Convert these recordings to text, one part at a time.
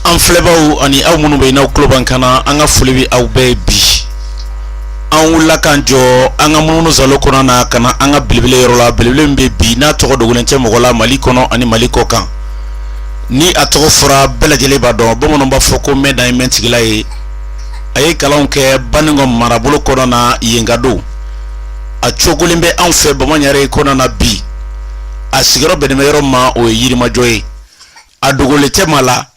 an filɛbaaw ani aw minnu bɛ yen n'aw tulo b'an kan na an ka foli bɛ aw bɛɛ ye bi an wulila k'an jɔ an ka munumunu salo kɔnɔ na ka na an ka belebele yɔrɔ la belebele min bɛ bi n'a tɔgɔ dogolen tɛ mɔgɔ la mali kɔnɔ ani mali kɔkan ni a tɔgɔ fɔra bɛɛ lajɛlen b'a dɔn bamananw b'a fɔ ko mɛn dan ye mɛntigila ye a ye kalanw kɛ baninkɔ marabolo kɔnɔna yen ka don a cogolen bɛ anw fɛ bamaɲare kɔnɔ na bi a sigiyɔrɔ bɛnnen bɛ yɔrɔ ma o ye yirimajɔ ye a dogolen tɛ maa la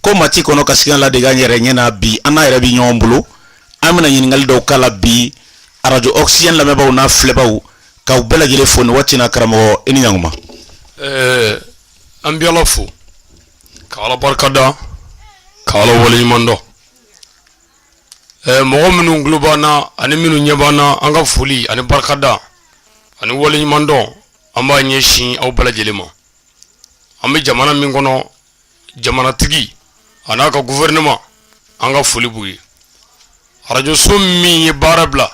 ko maa tɛ kɔnɔ kasikan ladege a yɛrɛ ɲɛ na bi an n'a yɛrɛ bɛ ɲɔgɔn bolo an bɛna ɲininkali dɔw k'a la bi arajo oxygène lamɛnbaaw n'a filɛbaaw k'aw bɛɛ lajɛlen fo nin waati in na karamɔgɔ i ni ɲankuma. ɛɛ an bɛ ala fo ka ala barika da ka ala waleɲuman dɔn ɛɛ mɔgɔ minnu tulo b'an na ani minnu ɲɛ b'an na an ka foli ani barika da ani waleɲuman dɔn an b'a ɲɛsin aw bɛɛ lajɛlen ma. an bɛ jamana min kɔnɔ jamanatigi a n'a ka gouvernement an ka foli b'u ye arajoso min ye baara bila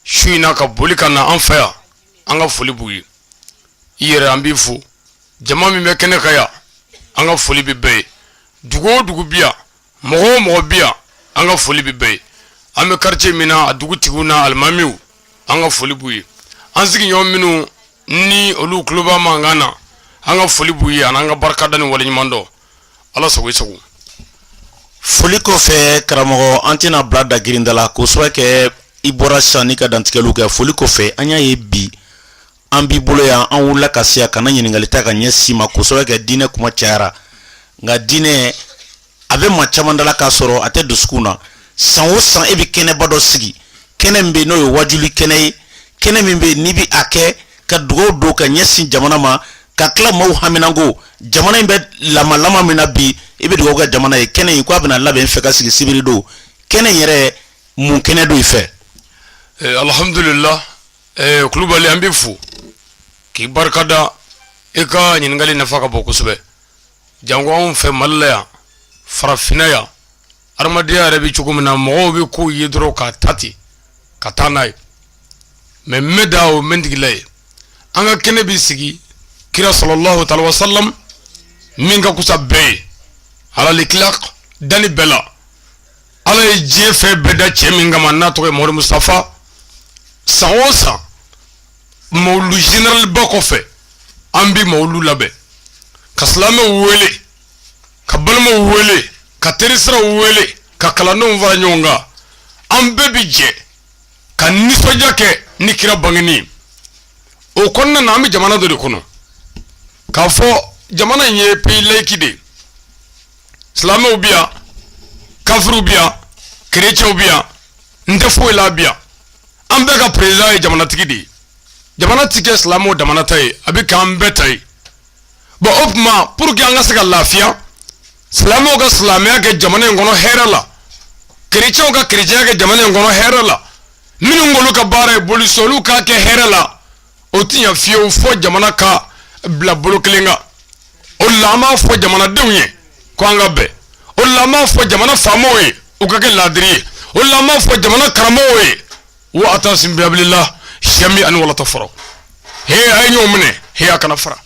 su in na ka boli ka na an fɛ yan an ka foli b'u ye i yɛrɛ an b'i fo jama min bɛ kɛnɛ kan yan an ka foli bɛ bɛɛ ye dugu o dugu bi yan mɔgɔ o mɔgɔ bi yan an ka foli bɛ bɛɛ ye an bɛ quartier min na a dugutigiw n'a alimamiw an ka foli b'u ye an sigiɲɔgɔn minnu ni olu tulo b'a mankan na an ka foli b'u ye an'an ka barikada ni waleɲumandɔn ala sago i sago foli kɔfɛ karamɔgɔ an tɛna bila da girinda la kosɛbɛ kɛ i bɔra sisan in ka dantigɛliw kɛ foli kɔfɛ an y'a ye bi an b'i bolo yan an wulila ka se yan ka na ɲininkali ta ka ɲɛsin i ma kosɛbɛ kɛ diinɛ kuma cayara nka diinɛ a bɛ maa caman da la k'a sɔrɔ a tɛ dusukun na san o san e bɛ kɛnɛba dɔ sigi kɛnɛ min bɛ n'o ye wajuli kɛnɛ ye kɛnɛ min bɛ n'i bɛ a kɛ ka dugaw don ka ɲɛsin jamana ma ka tila maaw haminanko jamana in bɛ lamalama min na bi i bɛ dugawu kɛ jamana ye kɛnɛ in ko a bɛna labɛn fɛ ka sigi sibiri don kɛnɛ in yɛrɛ mun kɛnɛ don i fɛ. Eh, alihamudulila eh, kulubali an b'i fo k'i barika da i ka ɲininkali nafa ka bon kosɛbɛ. Janko anw fɛ mali la yan farafinna yan adamadenya yɛrɛ bɛ cogo min na mɔgɔw bɛ ko ye dɔrɔn k'a ta ten ka taa n'a ye mɛ mɛn dan o mɛntigila ye an ka kɛnɛ bɛ sigi kira salalahu taala alayihi wasalam min ka kusa bɛɛ ye alal itilaki danni bɛɛ la ala ye diɲɛ fɛn bɛɛ da cɛ min kama n'a tɔgɔ ye mori mustafa san o san mawulu generaliba kɔfɛ an bɛ mawulu labɛn ka silamɛw wele ka balimaw wele ka terisiraw wele ka kalandenw fara ɲɔgɔn kan an bɛɛ bi jɛ ka nisɔndiya kɛ ni kira bangeni o kɔnɔna na an bɛ jamana dɔ de kɔnɔ k'a fɔ jamana in ye pays laïque de ye silamɛw bi yan kafiriw bi yan kerecɛnw bi yan n tɛ foyi la bi yan an bɛɛ ka perezidan ye jamanatigi de ye jamana ti kɛ silamɛw damana ta ye a bɛ k'an bɛɛ ta ye bon o tuma pour que an ka se ka lafiya silamɛw ka silamɛya kɛ jamana in kɔnɔ hɛrɛ la kerecɛnw ka kerecɛnya kɛ jamana in kɔnɔ hɛrɛ la minnu k'olu ka baara ye boli sɔn olu k'a kɛ hɛrɛ la o ti ɲɛ fiyewu fɔ jamana ka bila bolo kelen kan o la an b'a fɔ jamanadenw ye ko an ka bɛn o la an b'a fɔ jamana faamaw ye u ka kɛ laadiri ye o la an b'a fɔ jamana karamɔgɔw ye wa atasimu bihabililahi jamiyan wala tafara he a ye ɲɔgɔn minɛ he a kana fara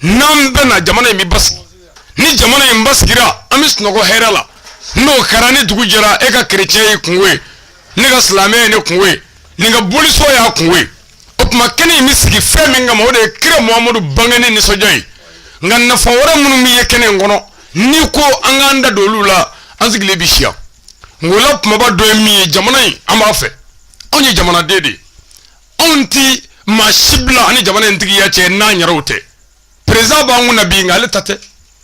n'an bɛnna jamana in bɛ basigi ni jamana in basigira an bɛ sunɔgɔ hɛrɛ la n'o kɛra ni dugu jɛra e ka kerecɛn y'i kunko ye ne ka silamɛ ye ne kunko ye nin ka boli sɔn y'a kunko ye o tuma kɛnɛ in bɛ sigi fɛn min kama o de ye kira muhamadu bangeni nisɔndiya ye nka nafa wɛrɛ minnu bɛ ye kɛnɛ in kɔnɔ n'i ko an k'an da don olu la an sigilen bɛ si yan nk'o la kumaba dɔ ye min ye jamana in an b'a fɛ anw ye jamanaden de ye anw ti maa si bila an ni jamana in tigiya cɛ n'an yɛrɛw tɛ perezidan b'an kun na bi nka ale ta tɛ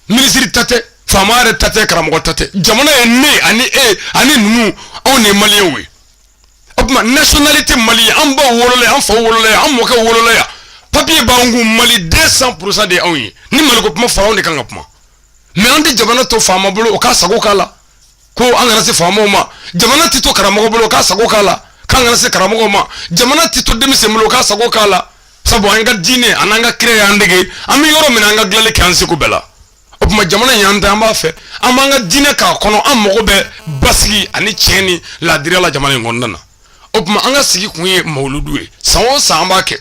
minisiri ta tɛ faama yɛrɛ ta tɛ karamɔgɔ ta tɛ jamana ye ne ani e ani ninnu anw de ye maliyɛnw ye o tuma nationalité malienne an baw wolola yan an faw wolola yan an mɔkɛw wolola yan papiye b'an kun mali 200 pourcent de ye anw ye ni maliko kuma fɔra anw de kan ka kuma mais an tɛ jamana to faama bolo o k'a sago k'a la ko an kana se faamaw ma jamana tɛ to karamɔgɔ bolo k'a sago k'a la k'an kana se karamɔgɔ ma jamana tɛ to denmisɛn bolo k'a sago k'a la sabu an ka diinɛ ani an ka kira y'an dege an bɛ yɔrɔ min na an ka dilanli kɛ an seko bɛɛ la o tuma jamana in y'an ta an b'a fɛ an b'an ka diinɛ k'a kɔnɔ an mago bɛ basigi ani tiɲɛ ni laadiriya la jamana in kɔnɔna na o tuma an ka sigi kun ye mawuludu ye san o san an b'a kɛ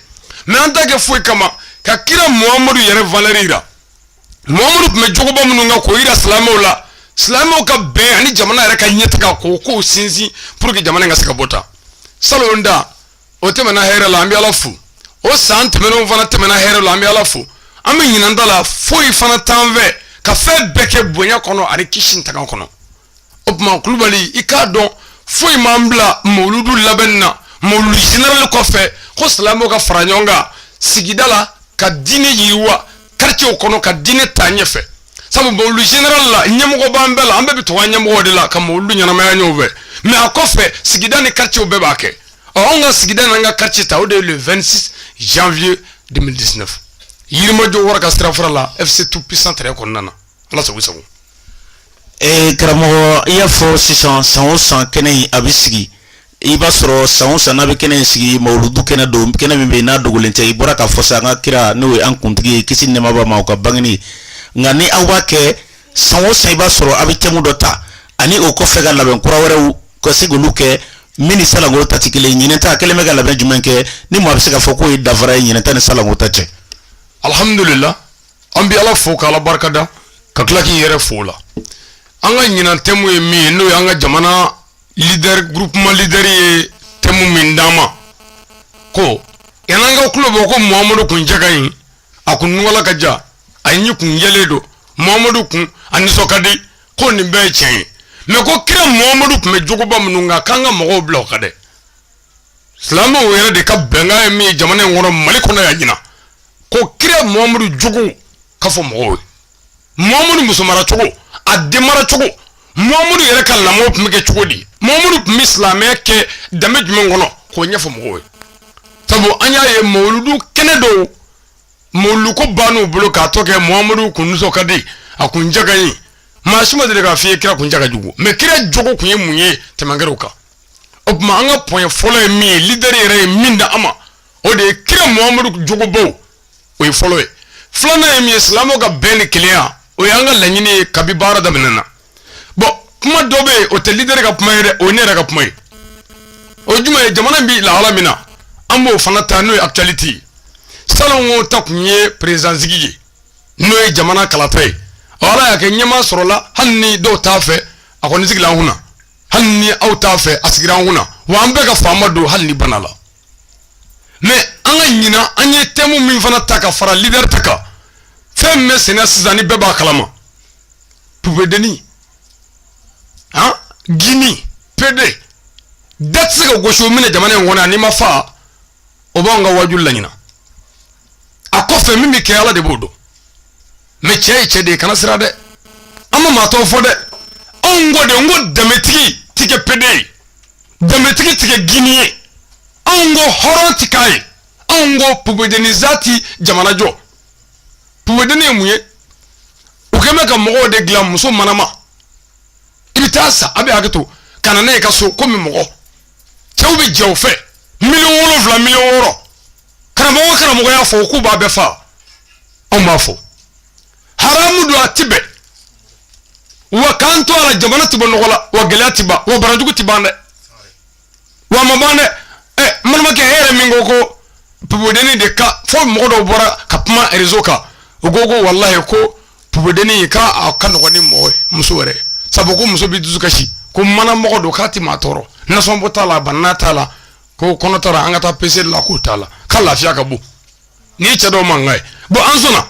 mais an t'a kɛ foyi kama ka kira muhamadu yɛrɛ valeur jira muhamadu tun bɛ jogoba minnu kan k'o yira silamɛw la silamɛw ka bɛn ani jamana yɛrɛ ka ɲɛtaga k'o kow sinsin pour que jamana in ka se ka bɔ tan salon ta o tɛmɛna hɛrɛ la an bɛ ala fo o san tɛmɛnenw fana tɛmɛna hɛrɛ la an bɛ ala fo an bɛ ɲinan ta la foyi fana t'an fɛ ka fɛn bɛɛ kɛ bonya kɔnɔ ani kisi tanga kɔnɔ o tuma kulubali i k'a dɔn foyi m'an bila mawuludu labɛnni na mawuludu general kɔfɛ ko silamɛw ka fara ɲɔgɔn kan sigida la ka diinɛ yiriwa quartiew kɔnɔ ka diinɛ taa ɲɛfɛ sabu mawuludu general la ɲɛmɔgɔ b'an bɛɛ la an bɛɛ bɛ tugu an ɲɛmɔgɔ de la ka mawuludu ɲɛnamaya ɲɔgɔn fɛ mɛ a kɔfɛ sigida ni quartiew bɛɛ b'a kɛ ɔ anw ka sigida n'an ka quartier ta o de ye le 26 janvier 2019 yirimajɔ wara ka sirafara la fc tout puissant terrain kɔnɔna na ala sago sago ee karamɔgɔ i y'a fɔ sisan san o san kɛnɛ in a bɛ sigi i b'a sɔrɔ san o san n'a bɛ kɛnɛ in sigi mawuludu kɛnɛ don kɛnɛ min bɛ yen n'a dogolen tɛ i bɔra k'a fɔ sa an ka kira n'o ye an kuntigi ye kisi nɛɛma b'a ma o ka bangeni nka ni aw b'a kɛ san o san i b'a sɔrɔ a bɛ tɛmu dɔ ta ani o kɔfɛ ka labɛn kura wɛrɛw ka se k'olu kɛ min ni salongo ta tɛ kelen ye ɲinɛ ta kɛlen bɛ ka labɛn jumɛn kɛ ni maa bɛ se k'a fɔ k'o ye danfara ye ɲinɛ ta ni salongo ta cɛ alihamudulila an bɛ ala fo k'ala barikada ka tila k'i yɛrɛ fo la an ka ɲinan tɛmu ye min ye n'o y'an ka jamana gurupuman lidɛri ye tɛmu min d'an ma ko ɲinan an ka kulo bɔ ko muhamadu kun cɛ ka ɲi a kun nungala ka jan a ɲin kun jɛlen don muhamadu kun a nisɔn ka di ko nin bɛɛ ye tiɲɛ ye mɛ ko kira muhamadu kun bɛ jogoba minnu kan k'an ka mɔgɔw bila o kan dɛ silamɛw yɛrɛ de ka bɛnkan ye min ye jamana in kɔnɔ mali kɔnɔ yan ɲinan ko kira muhamadu jogo ka fɔ mɔgɔw ye muhamadu musomara cogo a denmara cogo muhamadu yɛrɛ ka lamɔ tun bɛ kɛ cogo di muhamadu tun bɛ silamɛya kɛ danbe jumɛn kɔnɔ k'o ɲɛfɔ mɔgɔw ye sabu an y'a ye mawuludu kɛnɛ dɔw mawuludu ko ban'u bolo k'a tɔ kɛ muhamadu kun nisɔn ka di a kun ja ka ɲi maa si ma deli k'a f'i ye kira kun ja ka jugu mɛ kira jogo kun ye mun ye tɛmu kɛra o kan o tuma an ka pɔn fɔlɔ ye min ye lidɛri yɛrɛ ye min da an ma o de ye kira muhamadu jogobaw o ye fɔlɔ ye filanan ye min ye silamɛw ka bɛn ni kelenya o ye an ka laɲini ye kabi baara daminɛ na bɔn kuma dɔ bɛ yen o tɛ lidɛri ka kuma ye dɛ o ye ne yɛrɛ ka kuma ye o jumɛn ye jamana bɛ lahala min na an b'o fana ta n'o ye akitiyalite ye salongo ta tun ye perezidan sigi ye n'o ye jamana kalata ye ɔ ala y'a kɛ ɲɛmaa sɔrɔla hali ni dɔw t'a fɛ a kɔni sigilen an kunna hali ni aw t'a fɛ a sigira an kunna wa an bɛɛ ka faama don hali n'i ban a la mɛ an ka ɲinan an ye tɛmu min fana ta ka fara lidɛri ta kan fɛn min bɛ senna sisan ni bɛɛ b'a kalama pupedenni han gini pede da tɛ se ka gosi o minɛ jamana in kɔnɔ yan n'i ma fa o b'anw ka waajuli la ɲinan a kɔfɛ min bɛ kɛ ala de b'o dɔn mɛ cɛ ye cɛ de ye kana siran dɛ an ma maa tɔgɔ fɔ dɛ anw ko de n ko danbetigi ti kɛ pede ye danbetigi ti kɛ guwini ye anw ko hɔrɔn ti k'a ye anw ko pupedeni san ti jamana jɔ pupedeni ye mun ye u kɛlen bɛ ka mɔgɔw de dilan muso manama i bɛ taa a san a bɛ hakɛ to ka na n'a ye i ka so komi mɔgɔ cɛw bɛ jɛ u fɛ miliyɔn wolonwula miliyɔn wɔɔrɔ karamɔgɔ o karamɔgɔ y'a fɔ k'u b'a bɛɛ faga anw b'a fɔ haramu don a ti bɛn wa k'an to a la jamana ti bɔ nɔgɔ la wa gɛlɛya ti ban wa banajugu ti ban dɛ wa ma ban dɛ ɛ n balimakɛ e yɛrɛ min ko ko pupedeni de ka fo mɔgɔ dɔw bɔra ka kuma rezo kan u ko ko walayi ko pupedeni k'a ka nɔgɔn ni mɔgɔ ye muso wɛrɛ sabu ko muso bi dusu kasi ko mana mɔgɔ don k'a ti maa tɔɔrɔ nasɔnbɔ t'a la banana t'a la ko kɔnɔ tara an ka taa pese la k'o t'a la k'a lafiya ka bon nin ye cɛ dɔw mankan ye bɔn an sɔnna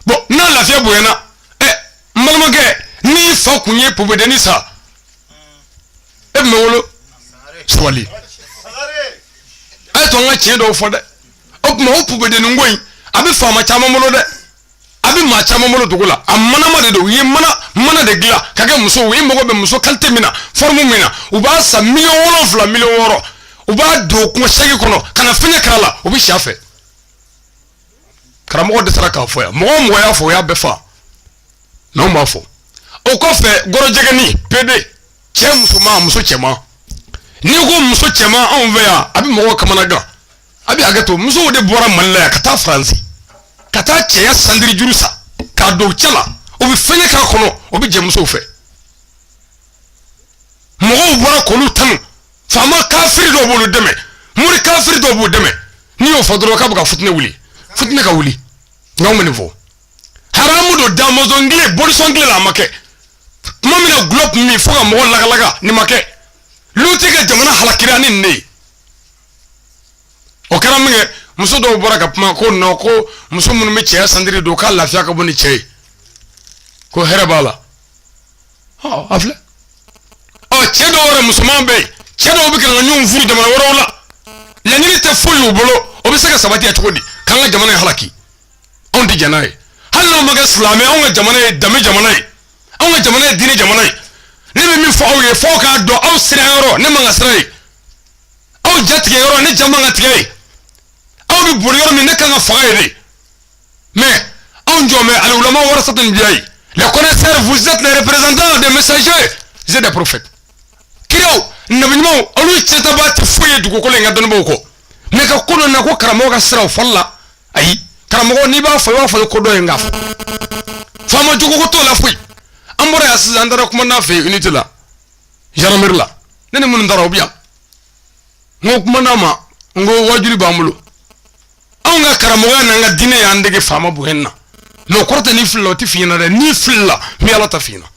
bɔn n'a lafiya bonyana ɛ n balimakɛ n'i fa kun ye pupedeni san e tun bɛ wolo sabali a y'a to an ka tiɲɛ dɔw fɔ dɛ o tuma o pupedeni ko in a bɛ faama caman bolo dɛ a bɛ maa caman bolo dugu la a manama de don u ye mana de dilan k'a kɛ musow ye u mago bɛ muso kalite min na foromu min na u b'a san miliyɔn wolonwula miliyɔn wɔɔrɔ u b'a don kungo segi kɔnɔ ka na fɛngɛ k'a la u bɛ si a fɛ karamɔgɔw dɛsɛra k'a fɔ yan mɔgɔ o mɔgɔ y'a fɔ u y'a bɛɛ faga nka anw b'a fɔ o kɔfɛ gɔrɔjigɛni pede cɛ musoman muso cɛman n'i ko muso cɛman anw fɛ yan a bɛ mɔgɔw kamanagan a bɛ hakɛ to musow de bɔra mali la yan ka taa faransi ka taa cɛya santiri juru san k'a don cɛ la o bɛ fɛngɛ k'a kɔnɔ o bɛ jɛ musow fɛ mɔgɔw bɔra k'olu tanu faama kafiri dɔw b'olu dɛmɛ mori kafiri dɔw b'u dɛmɛ n'i y'o fɔ dɔrɔn k'a bɛ ka fitinɛ wuli fitinɛ ka wuli nka anw bɛ nin fɔ haramu don damɔnzɔn kile bolisɔn kile la a ma kɛ tuma min na gulɔ tun bɛ min fo ka mɔgɔ lagalaga nin ma kɛ luti ka jamana halakira ni nin de ye o kɛra min kɛ muso dɔw bɔra ka kuma ko nɔ ko muso minnu bɛ cɛya santiri don k'a lafiya ka bon ni cɛ ye ko hɛrɛ b'a la a filɛ ɔ cɛ dɔw yɛrɛ musoman bɛ yen cɛ dɔw bɛ ka na ɲɔgɔn furu jamana wɛrɛw la laɲini tɛ foyi y'u bolo o bɛ se ka sabati cogo di k'an ka jamana in halaki anw tɛ jɛn n'a ye hali n'anw ma kɛ silamɛ anw ka jamana ye danbe jamana ye anw ka jamana ye diinɛ jamana ye ne bɛ min fɔ aw ye f'aw k'a dɔn aw siran yɔrɔ ne man kan ka siran yen aw jatigɛ yɔrɔ ne ja man ka tigɛ yen aw bɛ boli yɔrɔ min ne kan ka faga yen dɛ mais anw jɔn bɛ al ulama warasatul anbiyai les connaisseurs vous êtes les représentants des messagers et des prophètes kiraw nabi ɲumanw olu ciyɛntaba tɛ foyi ye dugukolo in kan dɔnnibaw kɔ mais ka ko dɔ na ko karamɔgɔ ka siran fɔli la ayi karamɔgɔ n'i b'a fɔ i b'a fɔ i ko dɔ ye nka fɔ faama jogo ko t'o la foyi an bɔra yan sisan an taara komandan fɛ yen unité la gendarmerie la ne ni minnu taara o bɛ yan n ko komandan ma n ko waajuli b'an bolo anw ka karamɔgɔya n'an ka diinɛ y'an dege faama bonya na mɛ o kɔrɔ tɛ n'i filila o tɛ f'i ɲɛna dɛ n'i filila n bɛ ala ta f'i ɲɛna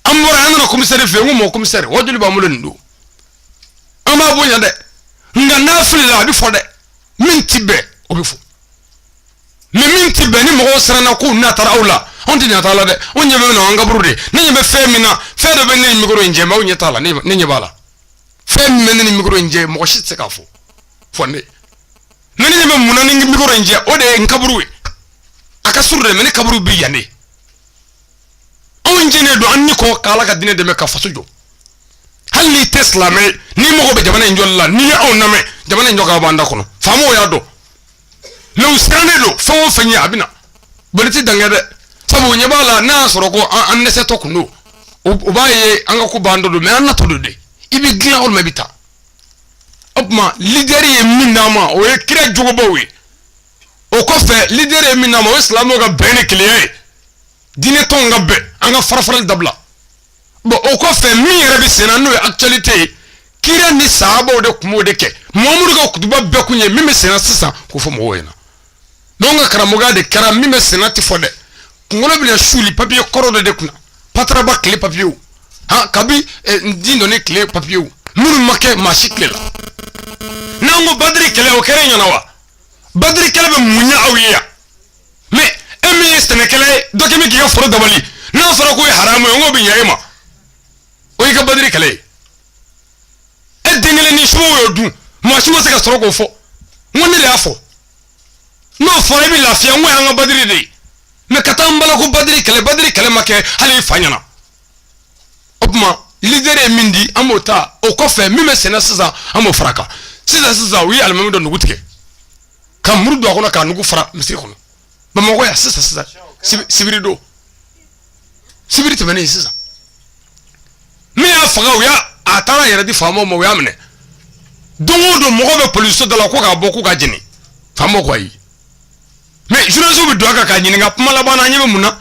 an bɔra an nana komisɛri fɛ yen n ko mon komisɛri waajuli b'an bolo nin don an b'a bonya dɛ nka n'a filila a bɛ fɔ dɛ min tɛ bɛn o bɛ fɔ mɛ min tɛ bɛn ni mɔgɔw siranna k'u n'a taara aw la anw tɛ ɲɛ t'a la dɛ anw ɲɛ bɛ na an kaburu de ne ɲɛ bɛ fɛn min na fɛn dɔ bɛ ne ni mikoro in cɛ mɛ aw ɲɛ t'a la ne ɲɛ b'a la fɛn min bɛ ne ni mikoro in cɛ mɔgɔ si tɛ se k'a fɔ fo ne ne ɲɛ bɛ mun na ni mikoro in cɛ o de ye n kaburu ye a ka surun dɛ mɛ ne kaburu bɛ yan de anw jɛnnen don an ni kɔ k'ala ka diinɛ dɛmɛ ka faso jɔ hali n'i tɛ silamɛ n'i mago bɛ jamana in jɔli la n'i ye anw lamɛn jamana in jɔkan b'an da kɔnɔ faamaw y'a dɔn mɛ u sirannen don fɛn o fɛn ye a bɛ na boli tɛ dankɛ dɛ sabu ɲɛ b'a la n'a y'a sɔrɔ ko an dɛsɛtɔ kun don u b'a ye an ka ko bantɔ don mɛ an natɔ don dɛ i bɛ dilan o mɛ bɛ taa o tuma lidɛri ye min d'an ma o ye kira jogobaw ye o kɔfɛ lidɛri ye min d'an ma o ye silamɛw ka bɛn ni kelenya ye diinɛ tɔnw ka bɛn an ka farafarali dabila bon o kɔfɛ min yɛrɛ bɛ senna n'o ye actualité ye kira ni sahabaw de tun b'o de kɛ mamadu ka kutuba bɛɛ kun ye min bɛ senna sisan k'o fɔ mɔgɔw ɲɛna n'anw ka karamɔgɔya de kɛra min bɛ senna tɛ fɔ dɛ kunkolo bɛna suuli papiye kɔrɔ dɔ de kunna pataraba tile papiyew han kabi eh, n di dɔnni tile papiyew minnu ma kɛ maa si tile la n'an ko badiri kɛlɛ o kɛra i ɲɛna wa badiri kɛlɛ bɛ mun ɲɛ aw ye yan mɛ e min ye sɛnɛkɛla ye dɔ kɛ min k'i ka foro dabali n'a fɔra k'o ye haramu ye n k'o bɛ ɲɛ e ma o y'i ka badiri kɛlɛ ye e den kelen ni subaw y'o dun maa si ma se ka sɔrɔ k'o fɔ n ko ne de y'a fɔ n'o fɔra i bɛ lafiya n k'o y'an ka badiri de ye mɛ ka taa n bala ko badiri kɛlɛ badiri kɛlɛ ma kɛ hali i fa ɲɛna o tuma lidɛri ye min di an b'o ta o kɔfɛ min bɛ senna sisan an b'o fara a kan sisan sisan u ye alimami dɔ nugu tigɛ ka muru don a kɔnɔ k'a nugu fara misiri kɔnɔ bamakɔ yan sisan sisan sibi- sibiri don sibiri tɛmɛnen sisan min y'a faga u y'a a taara a yɛrɛ di faamaw ma u y'a minɛ don o don mɔgɔw bɛ polisiso da la ko k'a bɔ k'u k'a jeni faamaw ko ayi mɛ journaliste bɛ don a kan k'a ɲininka kuma laban na an ɲɛ bɛ mun na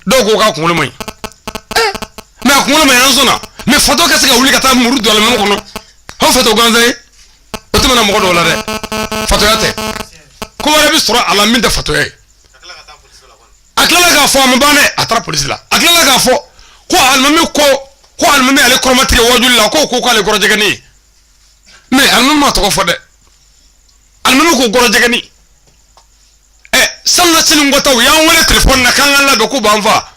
dɔw ko k'a kunkolo man ɲi Eh, mɛ a kunkolo man ɲi an sɔnna mɛ fatɔ ka se ka wuli ka taa muru don alimami kɔnɔ aw fatɔ gansan ye o tɛmɛna mɔgɔ dɔw la dɛ fatɔya tɛ ko wɛrɛ bɛ sɔrɔ a la min tɛ fatɔya ye a tilala k'a fɔ a ma ban dɛ a taara polisi la a tilala k'a fɔ ko alimami ko ko alimami y'ale kɔrɔmatigɛ wajuli la k'o ko k'ale gɔrɔjɛgɛni ye mɛ alimami ma tɔgɔ fɔ dɛ alimami ko gɔrɔjɛgɛni ɛ salon nasini nkɔtaw y'an wele telefɔni na k'an ka labɛn k'u b'an fa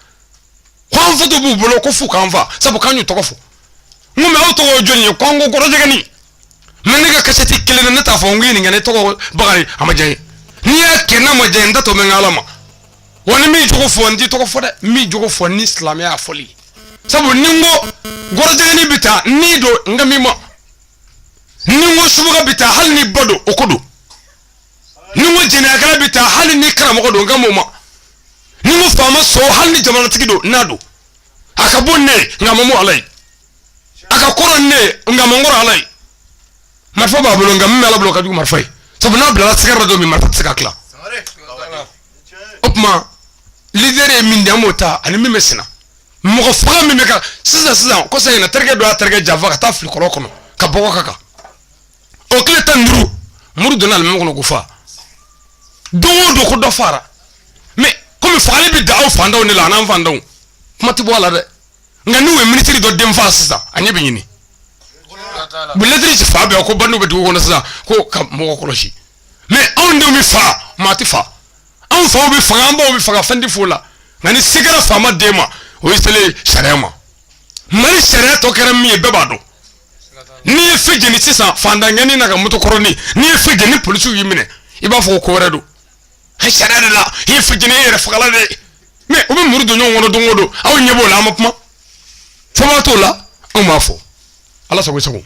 ko an foto b'u bolo ko f'u k'an fa sabu k'an y'u tɔgɔ fɔ n ko mɛ aw tɔgɔ ye jɔni ye ko an ko gɔrɔjɛgɛni mɛ ne ka kasɛti kelen na ne t'a fɔ n ko ɲininka ne tɔgɔ bakari a ma diya n ye n'i y'a kɛ n'a ma diya n da tɔ bɛ n ka ala ma wa ne b'i jogo fɔ n t'i tɔgɔ fɔ dɛ n b'i jogo fɔ ni silamɛya fɔli sabu ni n ko gɔrɔjɛgɛni bɛ taa n'i don n kan b'i ma ni n ko subaga bɛ taa hali n'i ba don o ko don ni n ko jɛnɛyakɛla bɛ taa hali ni karamɔgɔ don n kan b'o ma ni n ko faama son hali ni jamanatigi don n'a don a ka bon ne ye nka a man bon ala ye a ka kɔrɔ ne ye nka a man kɔrɔ ala ye marifa b'a bolo nka min bɛ ala bolo ka jugu marifa ye sabu n'a bilala sigara dɔ min marifa tɛ se ka tila o tuma lideri ye min di an b'o ta ani min bɛ sen na mɔgɔ faga min bɛ kɛ sisan sisan kɔsa in na terikɛ dɔ y'a terikɛ janfa ka taa a fili kɔlɔn kɔnɔ ka bɔgɔ k'a kan o tile tan ni duuru muru donna alimami kɔnɔ k'o fa don o don ko dɔ fara mɛ komi fagali bɛ da aw fantanw de la an an fantanw kuma tɛ bɔ a la dɛ nka n'u ye minisiri dɔ den faa sisan a ɲɛ bɛ ɲini lɛtiri ci fan bɛɛ ko bandiw bɛ dugu kɔnɔ sisan ko ka mɔgɔ kɔlɔsi mɛ anw denw bɛ fa maa tɛ fa anw faw bɛ faga an baw bɛ faga fɛn tɛ f'o la nka ni se kɛra faama den ma o ye selen sariya ma mali sariya tɔ kɛra min ye bɛɛ b'a dɔn n'i ye feu jeni sisan fantan ɲani n'a ka moto kɔrɔni n'i ye feu jeni polisiw y'i minɛ i b'a fɔ ko ko wɛrɛ don sariya de la i ye feu jeni e yɛrɛ fagala de ye mɛ u bɛ muru don ɲɔgɔn kɔnɔ don o don aw ɲɛ b'o la an ma kuma fɔlɔ t'o la anw b'a fɔ ala sago sago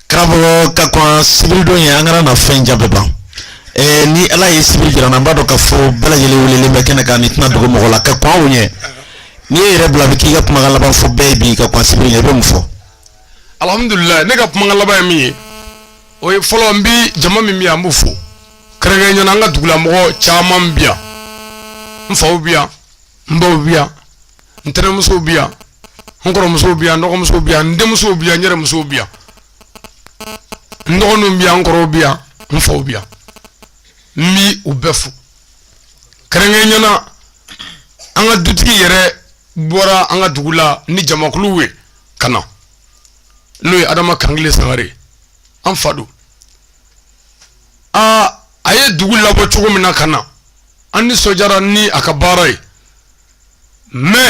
karamɔgɔ ka kɔn sibiridon ɲɛ an kana na fɛn jan bɛɛ ban ɛɛ ni ala ye sibiri jira an na an b'a dɔn k'a fɔ bɛɛ lajɛlen welelen bɛ kɛnɛ kan nin tɛna dogo mɔgɔ la ka kɔn o ɲɛ n'i ye yɛrɛ bila a bɛ k'i ka kumakan laban fɔ bɛɛ ye bi ka kɔn sibiri ɲɛ i bɛ mun fɔ. alihamudulilayi ne ka kumakan laban ye min ye o ye fɔlɔ n bi jama min bɛ yan an b'u fo. kɛrɛnkɛrɛnnya na an ka dugulamɔgɔ caman bi yan n faw bi yan n baw bi yan n tɛnɛmusow bi yan n kɔrɔmusow bi yan n dɔgɔmusow bi yan n denmusow bi yan n yɛrɛ musow bi yan n dɔgɔninw bi yan n kɔrɔw bi yan n faw bi yan n bi u bɛɛ fo kɛrɛnkɛrɛnnya na an ka dutigi yɛrɛ bɔra an ka dugu la ni jamakulu ye ka na n'o ye adama kankile sangare an fa don aa a ye dugu labɔ cogo min na ka na an ni sɔjara ni a ka baara ye mɛ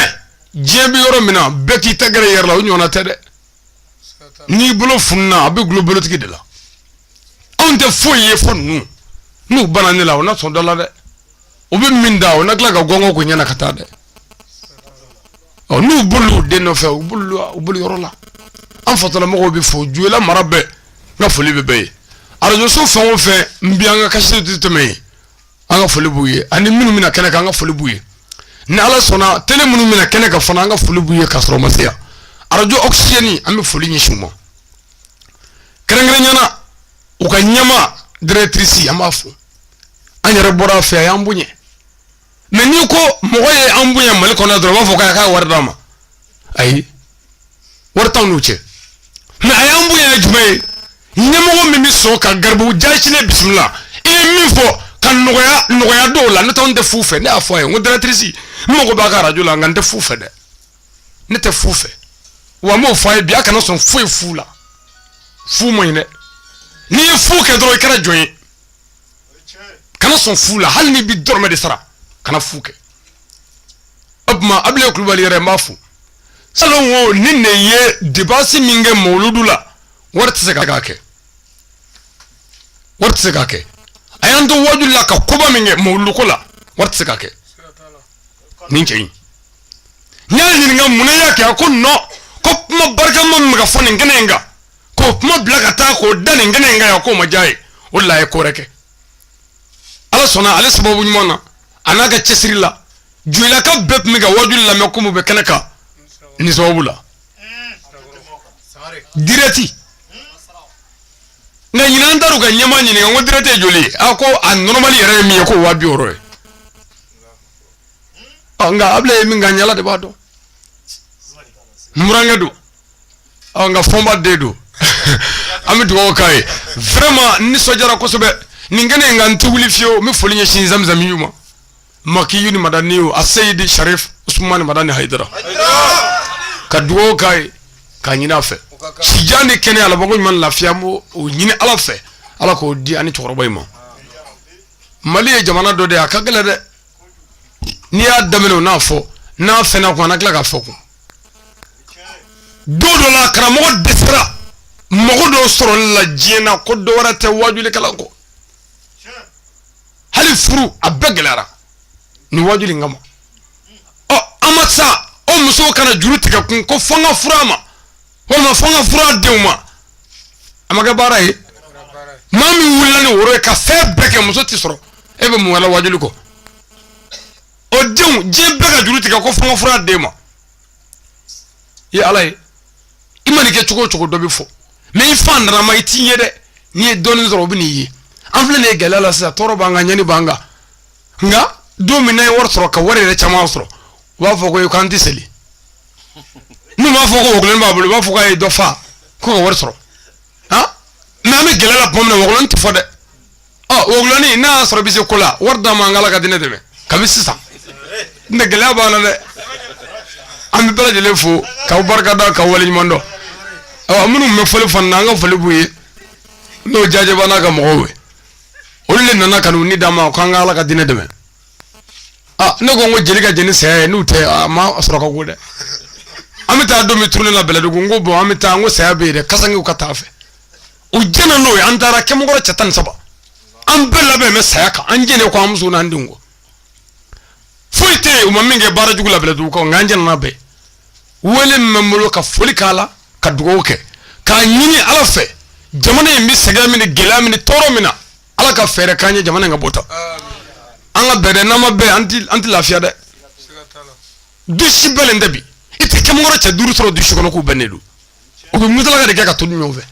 diɲɛ bɛ yɔrɔ min na bɛɛ k'i ta gɛrɛ i yɛrɛ la o ɲɔgɔnna tɛ dɛ ni bolo fununa a bɛ dulon bolotigi de la anw tɛ foyi ye fo ninnu n'u banna ne la u na sɔn dɔ la dɛ u bɛ min da o na tila ka gɔngɔn ko i ɲɛ na ka taa dɛ ɔ n'u bolo den nɔfɛ u u bolo yɔrɔ la an fatalamɔgɔw bɛɛ fo jɔyila mara bɛɛ n ka foli bɛ bɛɛ ye arajoso fɛn o fɛn bɛ an ka kasɛti tɛmɛ an ka foli b'u ye ani minnu bɛna kɛnɛ kan an ka foli b'u ye ni ala sɔnna tele minnu bɛna kɛnɛ kan fana an ka foli b'u ye ka sɔrɔ u ma se yan arajo ɔkisizɛni an bɛ foli ɲɛsin u ma kɛrɛnkɛrɛnnya na u ka ɲɛmaa dirɛkitirisi an b'a fo an yɛrɛ bɔra a fɛ a y'an bonya mɛ n'i ko mɔgɔ ye an bonya mali kɔnɔ dɔrɔn u b'a fɔ k'a ka wari d'a ma ayi wari t'anw n'u cɛ mɛ a y'an bonya ye jumɛn ye ɲɛmɔgɔ min bɛ sɔn ka garibu jaasilen bisimila i ye min fɔ ka nɔgɔya don a la ne tun tɛ fu fɛ ne y'a fɔ a ye n ko dirɛkitirisi n mago b'a ka arajo la nka n tɛ fu fɛ dɛ ne tɛ fu fɛ wa n b'o fɔ a ye bi a kana sɔn fu la fu man ɲi dɛ n'i ye fu kɛ dɔrɔn i kɛra jɔn ye kana sɔn fu la hali n'i bi dɔrɔmɛ de sara kana fu kɛ o tuma abile kulubali yɛrɛ n b'a fo salon o ni ne ye depansi min kɛ mawuludu la wari tɛ se k'a kɛ a y'an to waju la ka koba min kɛ mawuluduko la wari tɛ se k'a kɛ nin cɛ in n y'a ɲininka munna a y'a kɛ a ko nɔ ko kuma barikama min bɛ ka fɔ nin kɛnɛ in kan k'o kuma bila ka taa k'o dan nin kɛnɛ in kan yan k'o ma diya a ye o de la a ye ko wɛrɛ kɛ ala sɔnna ale sababu ɲuman na a n'a ka cɛsiri la jɔyilakaw bɛɛ tun bɛ ka waju lamɛn komi u bɛ kɛnɛ kan nin sababu la dirɛti nka ɲinan an taar'u ka ɲɛmaa ɲininka n ko dirɛti ye joli ye a ko a nɔrɔmali yɛrɛ ye min ye k'o waa bi wɔɔrɔ ye nka abile bɛ min kan ala de b'a dɔn n burankɛ don an ka fɔnba den don an bɛ dugawu k'a ye vraiment n nisɔndiyara kosɛbɛ nin kɛnɛ in kan n tɛ wuli fiyewu n bɛ foli ɲɛsin zamizamiyu ma makiyu ni madaniyu a seyidi sharif usumani madani hayidara ka dugawu k'a ye k'a ɲini a fɛ sijan ni kɛnɛya labanko ɲuman lafiya n b'o ɲini ala fɛ ala k'o di an ni cɛkɔrɔba in ma mali ye jamana dɔ de ye a ka gɛlɛn dɛ n'i y'a daminɛ u n'a fɔ n'a fɛnna ko a na tila k'a fɔ ko don dɔ la karamɔgɔ dɛsɛra mɔgɔ dɔw sɔrɔli la diɲɛ na ko dɔ wɛrɛ tɛ wajuli kalan kɔ hali furu a bɛɛ gɛlɛyara ni wajuli in kama ɔ an ma sa o musow ka na juru tigɛ kun ko fo n ka furu a ma walima fo n ka furu a denw ma a ma kɛ baara ye maa min wulila ni woro ye ka fɛn bɛɛ kɛ muso tɛ sɔrɔ e bɛ mun wɛrɛ wajuli kɔ o denw diɲɛ bɛ ka juru tigɛ ko fo n ka furu a den ma i ala ye i man'i kɛ cogo cogo dɔ bɛ fɔ mais i faantannama u tɛ n'i ye dɛ n'i ye dɔɔnin sɔrɔ u bɛ n'i ye an filɛ nin ye gɛlɛya la sisan tɔɔrɔ b'an kan ɲani b'an kan nka don min n'a ye wari sɔrɔ ka wari yɛrɛ caman sɔrɔ u b'a fɔ ko k'an tɛ seli n'u m'a fɔ ko wɔkulɔnin b'a bolo u b'a fɔ k'a ye dɔ faga ka wari sɔrɔ mais an bɛ gɛlɛya la tuma min na wɔkulɔnin tɛ fɔ dɛ ɔ wɔkulɔnin n'a y'a sɔrɔ i bɛ se ko la wari d'an ma an ka ala ka diinɛ dɛmɛ kabi sisan n tɛ gɛlɛya b'an na dɛ an bɛ bɛɛ lajɛlen fo k'aw barika da k'aw waleɲuman dɔn awa minnu bɛ fɔli fana na an ka foli b'u ye n'o jajɛba n'a ka mɔgɔw ye olu de nana ka n'u ni d'an ma k'an ka ala ka diinɛ dɛmɛ aa ne ko n ko jeli ka jɛn ni saya ye n'o tɛ a maa sɔrɔ ka go dɛ an bɛ taa don min turune la bɛlɛdugu n ko bon an bɛ taa n ko saya bɛ yen dɛ kasangew ka taa an fɛ u jɛnna n'o ye an taara kɛmɔgɔrɔ cɛ tan ni saba an bɛɛ labɛn bɛ saya kan an jɛnnen ko an musow n'an denw kɔ foyi tɛ yen u ma min kɛ baara jugu la bɛlɛdugu kɔ nka an jɛnna n'a bɛɛ wele min bɛ n bolo ka foli k'a la ka dugawu kɛ k'a ɲini ala fɛ jamana in bɛ sɛgɛn min ni gɛlɛya min ni tɔɔrɔ min na ala ka fɛɛrɛ k'an ye jamana in ka bɔ ta an ka bɛn dɛ n'an ma bɛn an tɛ lafiya dɛ du si bɛnnen tɛ bi i tɛ kɛmɔgɔrɔ cɛ duuru sɔrɔ du si kɔnɔ k'u bɛnnen don u bɛ musalaka de kɛ ka to ɲɔgɔn fɛ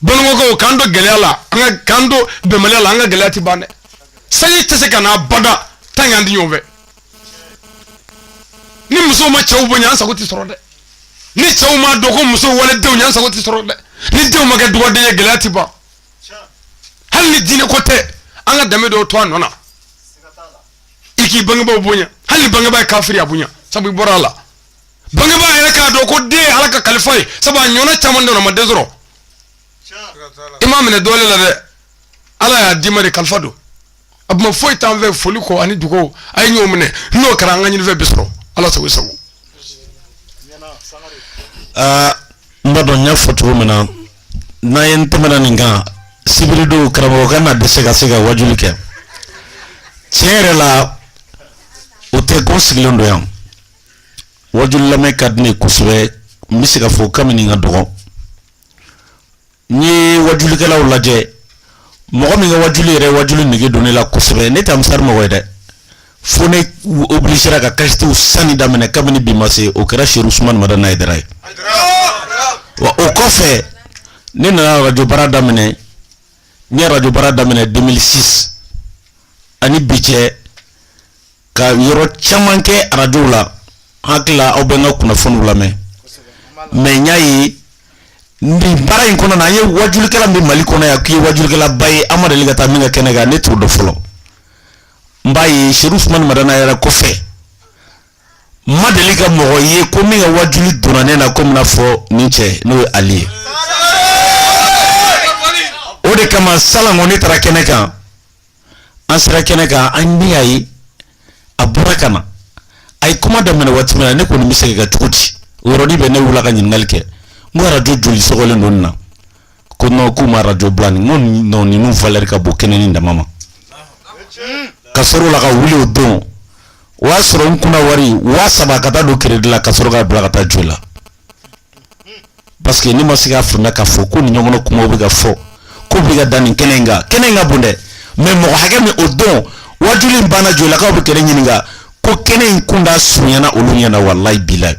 banikɔkaw k'an to gɛlɛya la an ka k'an to bɛnbaliya la an ka gɛlɛya ti ban dɛ sanji tɛ se ka na bada tant que an tɛ ɲɔgɔn fɛ ni musow ma cɛw bonya an sago ti sɔrɔ dɛ ni cɛw ma dɔn ko musow walidenw ye an sago ti sɔrɔ dɛ ni denw ma kɛ dɔgɔden ye gɛlɛya ti ban hali ni diinɛ ko tɛ an ka danbe don o to a nɔ na i k'i bangebaaw bonya hali ni bangebaa ye kafiri a bonya sabu i bɔra a la bangebaa yɛrɛ k'a dɔn ko den ye ala ka kalifa ye sabu a ɲɔgɔnna caman don a ma den sɔrɔ i m'a minɛ dɔnni la dɛ ala y'a d'i ma de kalifa don a tuma foyi t'an fɛ foli kɔ ani dugawu a ye ɲɔgɔn minɛ n'o kɛra an ka ɲinifɛn bɛ sɔrɔ ala sago sago aa n b'a dɔn n y'a fɔ cogo min na n'an ye n tɛmɛna nin kan sibiridon karamɔgɔ kana dɛsɛ ka se ka wajuli kɛ tiɲɛ yɛrɛ la o tɛ ko n sigilen don yan wajuli lamɛn ka di ne ye kosɛbɛ n bɛ se ka fɔ kabini n ka dɔgɔ n ye wajulikɛlaw lajɛ mɔgɔ min ka wajuli yɛrɛ wajuli nege don ne la kosɛbɛ ne tɛ misiri mɔgɔ ye dɛ fo ne obligera ka kasɛtiw sanni daminɛ kabini bi ma se o kɛra seru usumani madani hayidara ye wa o kɔfɛ ne nana arajo baara daminɛ n ye arajo baara daminɛ 2006 ani bi cɛ ka yɔrɔ caman kɛ arajo la n hakili la aw bɛ n ka kunnafoniw lamɛn mɛ n y'a ye nin baara in kɔnɔ an ye wajulikɛla min mali kɔnɔ yan k'i ye wajulikɛlaba ye an ma deli ka taa min ka kɛnɛ kan ne t'o dɔn fɔlɔ n b'a ye seru usumani madani hayidara kɔfɛ n ma deli ka mɔgɔ ye ko min ka waju donna ne na komi i n'a fɔ nin cɛ n'o ye ale ye o de kama salon ne taara kɛnɛ kan an sera kɛnɛ kan an y'a ye a bɔra ka na a ye kuma daminɛ waati min na ne kɔni bɛ se ka cogo di o yɔrɔnin bɛɛ ne wulila ka ɲininkali kɛ n ko arajo joli sɔgɔlen don nin na ko nɔn k'u ma arajo bila nin ko nɔn ninnu valeur ka bon kɛnɛ nin dama ma ka sɔrɔ o la ka wuli o don o y'a sɔrɔ n kun na wari waa saba ka taa don keredi la ka sɔrɔ k'a bila ka taa arajo la Parce que ne ma se k'a faamu k'a fɔ ko nin ɲɔgɔnna kuma bɛ ka fɔ ko bɛ ka dan nin kɛnɛ in kan kɛnɛ in ka bon dɛ mɛ mɔgɔ hakɛ min o don wajuli in banna joyilakaw bɛ ka ne ɲininka ko kɛnɛ in kuntaa surunyana olu ɲɛna walayi bilayi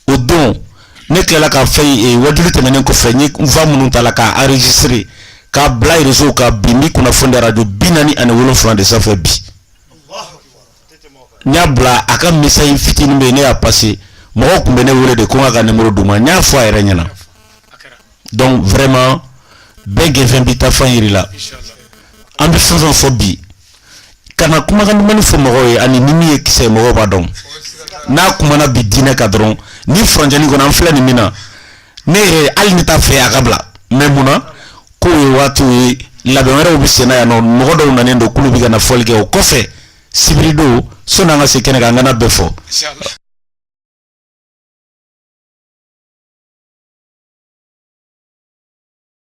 o don ne tilala ka fɛn ye wajuli tɛmɛnen kɔfɛ n ye fan minnu ta la k'a enregistrer k'a bila réseau kan bi n bɛ kunnafoni di arajo bi naani ani wolonfila de sanfɛ bi n y'a bila a ka message fitinin bɛ yen ne y'a passer mɔgɔw tun bɛ ne wele de ko n k'a ka numéro d'u ma n y'a fɔ a yɛrɛ ɲɛna donc vraiment bɛɛ gɛnfɛn b'i ta fan yiri la an bɛ fɛn fɛn fɔ bi ka na kumakan dumannin fɔ mɔgɔw ye ani ni min ye kisɛ ye mɔgɔw b'a dɔn n'a kumana bi diinɛ kan dɔrɔn nin furancɛnin kɔnɔ an filɛ nin min na ne yɛrɛ hali ne t'a fɛ a ka bila mais mun na k'o ye waatiko ye labɛn wɛrɛw bɛ senna yan nɔ mɔgɔ dɔw nanen don k'olu bɛ ka na foli kɛ o kɔfɛ sibiridon sani an ka se kɛnɛ kan an kana bɛɛ fɔ.